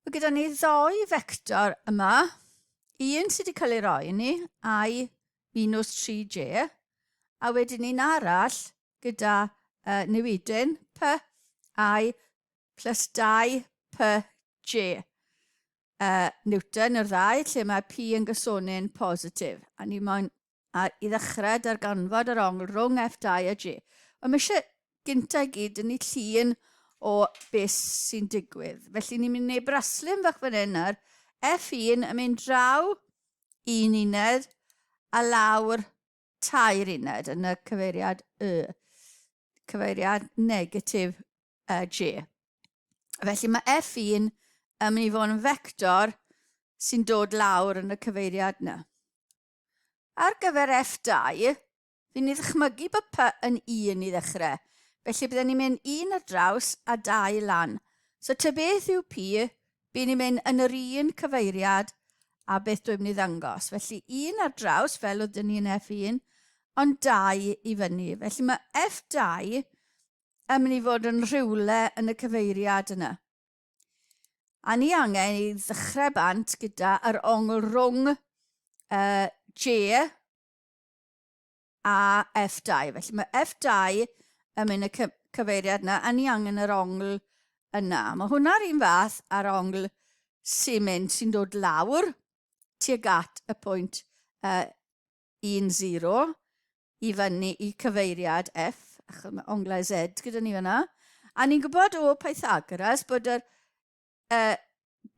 Mae gyda ni ddoi fector yma, un sydd wedi cael ei roi ni, i minus 3j, a wedyn ni'n arall gyda uh, newidyn p i plus 2 p j. Uh, Newton yr ddau, lle mae p yn gysonu'n positif, a ni moyn A i ddechrau, darganfod yr ongl rhwng F2 a G. Ond mae eisiau gynta i gyd yn ei llun o beth sy'n digwydd. Felly ni'n mynd i wneud braslun fach fan hyn nawr. F1 yn mynd draw un uned a lawr tair uned yn y cyfeiriad Y, cyfeiriad negatif uh, G. Felly mae F1 yn mynd i fod yn fector sy'n dod lawr yn y cyfeiriad yna. Ar gyfer F2, fi'n i ddchmygu bod py yn un i ddechrau, felly bydden ni'n mynd un ar draws a dau lan. So ty beth yw pi, byn ni'n mynd yn yr un cyfeiriad a beth dwi'n mynd i ddangos. Felly un ar draws fel oedd dyn ni yn F1, ond dau i fyny. Felly mae F2 yn mynd i fod yn rhywle yn y cyfeiriad yna. A ni angen i ddechrau bant gyda yr ongl rhwng uh, J a F2. Felly mae F2 yn mynd y cyfeiriad yna, a ni angen yr ongl yna. Mae hwnna'r un fath ar ongl sy'n mynd sy'n dod lawr tuag at y pwynt uh, un zero i fyny i cyfeiriad F, achos mae onglau Z gyda ni fyna. A ni'n gwybod o Pythagoras bod yr uh,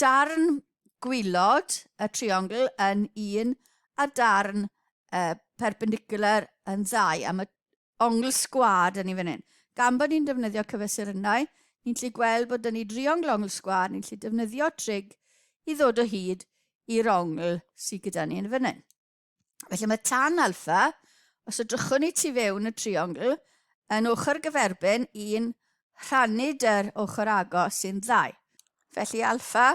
darn gwylod y triongl yn un a'r darn uh, perpendicular yn ddau. A mae ongl sgwad yn ni fan hyn. Gan bod ni'n defnyddio cyfesurynnau, ni'n gallu gweld bod yn ni driongl ongl sgwad, ni'n gallu defnyddio trig i ddod o hyd i'r ongl sydd gyda ni yn fan hyn. Felly mae tan alfa, os ydrychwn ni tu fewn y triongl, yn ochr gyferbyn i'n rhannu dy'r ochr agos sy'n ddau. Felly alfa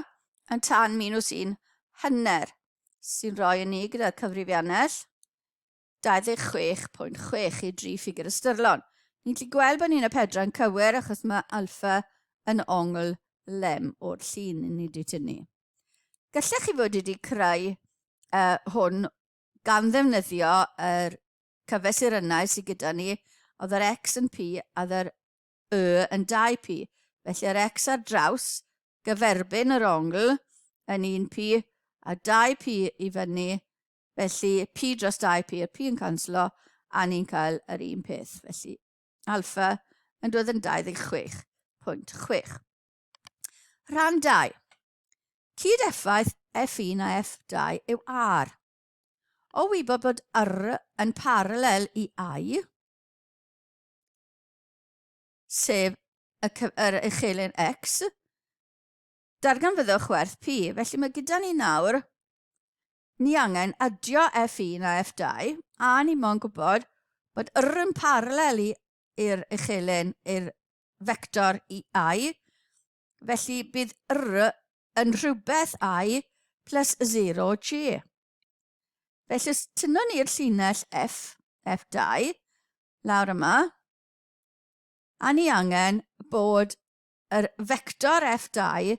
yn tan minus 1 hanner, sy'n rhoi yn ni gyda cyfrifiannell 26.6 i dri ffigur ystyrlon. Ni'n gallu gweld bod ni'n y pedra'n cywir achos mae alfa yn ongl lem o'r llun i ni di tynnu. Gallech chi fod wedi creu uh, hwn gan ddefnyddio yr er cyfesurynau sydd gyda ni, oedd yr X yn P a oedd yr Y yn 2P. Felly yr X ar draws gyferbyn yr ongl yn 1P a 2P i fyny. Felly P dros 2P, y P yn canslo, a ni'n cael yr un peth. Felly alfa yn dod yn 26.6. Rhan 2. Cyd-effaith F1 a F2 yw R. O wybod bod R yn paralel i I, sef y, yr uchelyn X, darganfyddwch werth P. Felly mae gyda ni nawr, ni angen adio F1 a F2, a ni mo'n gwybod bod R yn paralel i'r uchelyn, i'r vector i i, felly bydd r yn rhywbeth i plus 0j. Felly os tynnwn ni'r llinell f, f2, lawr yma, a ni angen bod yr vector f2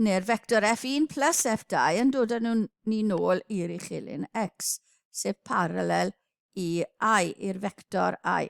neu'r vector f1 plus f2 yn dod â nhw'n ni nôl i'r uchelyn x, sef parallel i i, i'r vector i.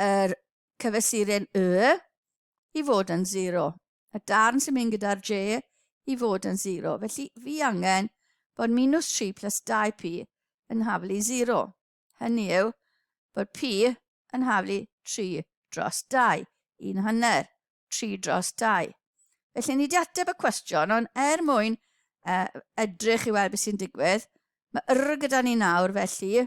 yr cyfesuren Y i fod yn 0, y darn sy'n mynd gyda'r J i fod yn 0. Felly fi angen bod minus 3 plus 2p yn haflu 0. Hynny yw bod p yn haflu 3 dros 2, un hanner, 3 dros 2. Felly ni wedi ateb y cwestiwn, ond er mwyn uh, edrych i weld beth sy'n digwydd, mae yr gyda ni nawr felly,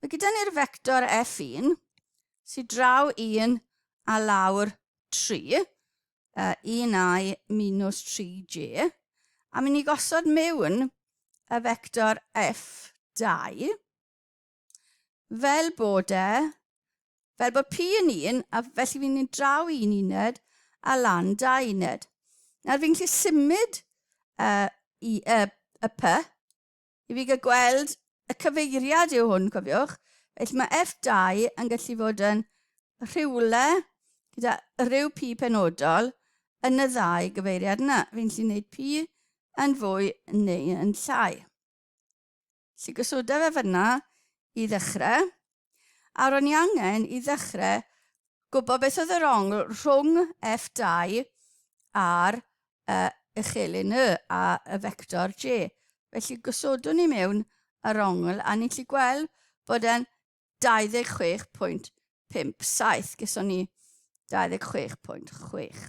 Mae gyda ni'r fector F1 sy'n draw 1 a lawr 3, uh, 1i minus 3j, a mynd i gosod mewn y fector F2 fel bod e, fel bod P yn 1, a felly fi'n mynd draw un uned a lan da uned. Nawr fi'n gallu symud uh, i, uh, y P i fi gael gweld y cyfeiriad yw hwn, cofiwch. Felly mae F2 yn gallu fod yn rhywle gyda rhyw P penodol yn y ddau gyfeiriad yna. Fi'n gallu gwneud P yn fwy neu yn llai. Felly gosoda fe fyna i ddechrau. A ro'n i angen i ddechre gwybod beth oedd yr ongl rhwng F2 a'r uh, uchelyn Y a y fector J. Felly gosodwn ni mewn yr ongl a ni'n lli gweld bod e'n 26.57. Geson ni 26.6.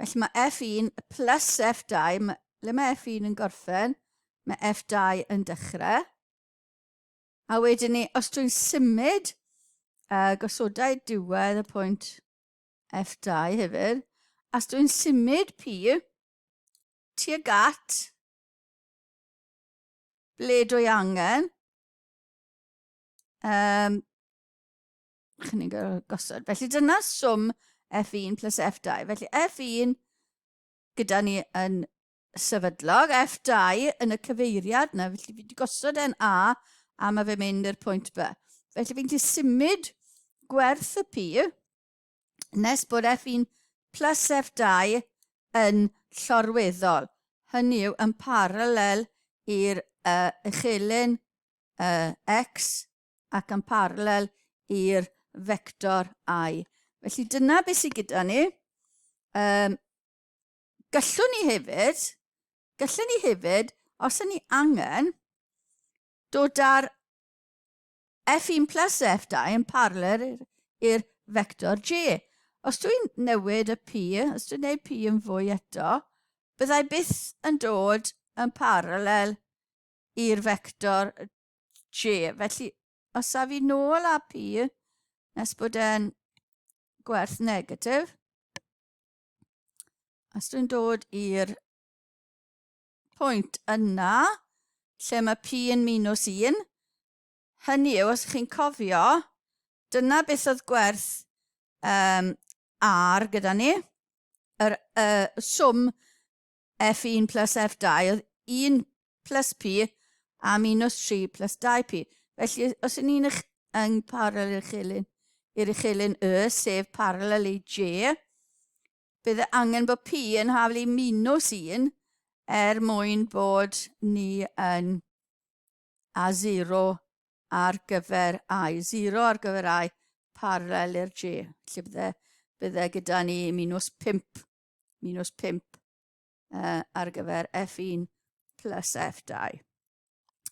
Felly mae F1 plus F2, ble mae F1 yn gorffen, mae F2 yn dechrau. A wedyn ni, os dwi'n symud, uh, gosodau diwedd y pwynt F2 hefyd, os dwi'n symud P tuag at ble dwi angen, um, Chi'n ni'n gorfod gosod. Felly dyna swm F1 plus F2. Felly F1 gyda ni yn sefydlog, F2 yn y cyfeiriad yna, felly fi wedi gosod e'n A a mae fe mynd i'r pwynt B. Felly fi'n gallu symud gwerth y P nes bod F1 plus F2 yn llorweddol. Hynny yw yn paralel i'r uh, uchelyn uh, X ac yn parallel i'r vector i. Felly dyna beth sydd gyda ni. Um, gallwn ni hefyd, gallwn ni hefyd, os yna ni angen, dod â'r F1 plus F2 yn parallel i'r vector G. Os dwi'n newid y P, os dwi'n neud P yn fwy eto, byddai byth yn dod yn parallel i'r vector je. Felly, os a fi nôl a pi, nes bod e'n gwerth negatif, os dwi'n dod i'r pwynt yna, lle mae pi yn minus 1, hynny yw, os chi'n cofio, dyna beth oedd gwerth um, ar gyda ni, yr uh, swm F1 plus F2 oedd 1 plus P a minus 3 plus 2P. Felly, os yn ni'n yng parallel i'r chelyn, i'r uchelyn Y, sef parallel i J, bydd angen bod P yn haflu i minus 1 er mwyn bod ni yn a 0 ar gyfer I, 0 ar gyfer I, parallel i'r J. Felly bydde, bydde gyda ni minus 5 minus 5 uh, ar gyfer F1 plus F2.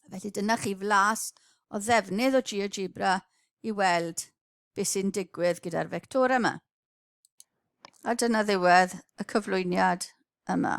Felly dyna chi flas o ddefnydd o GeoGebra i weld beth sy'n digwydd gyda'r fectorau yma. A dyna ddiwedd y cyflwyniad yma.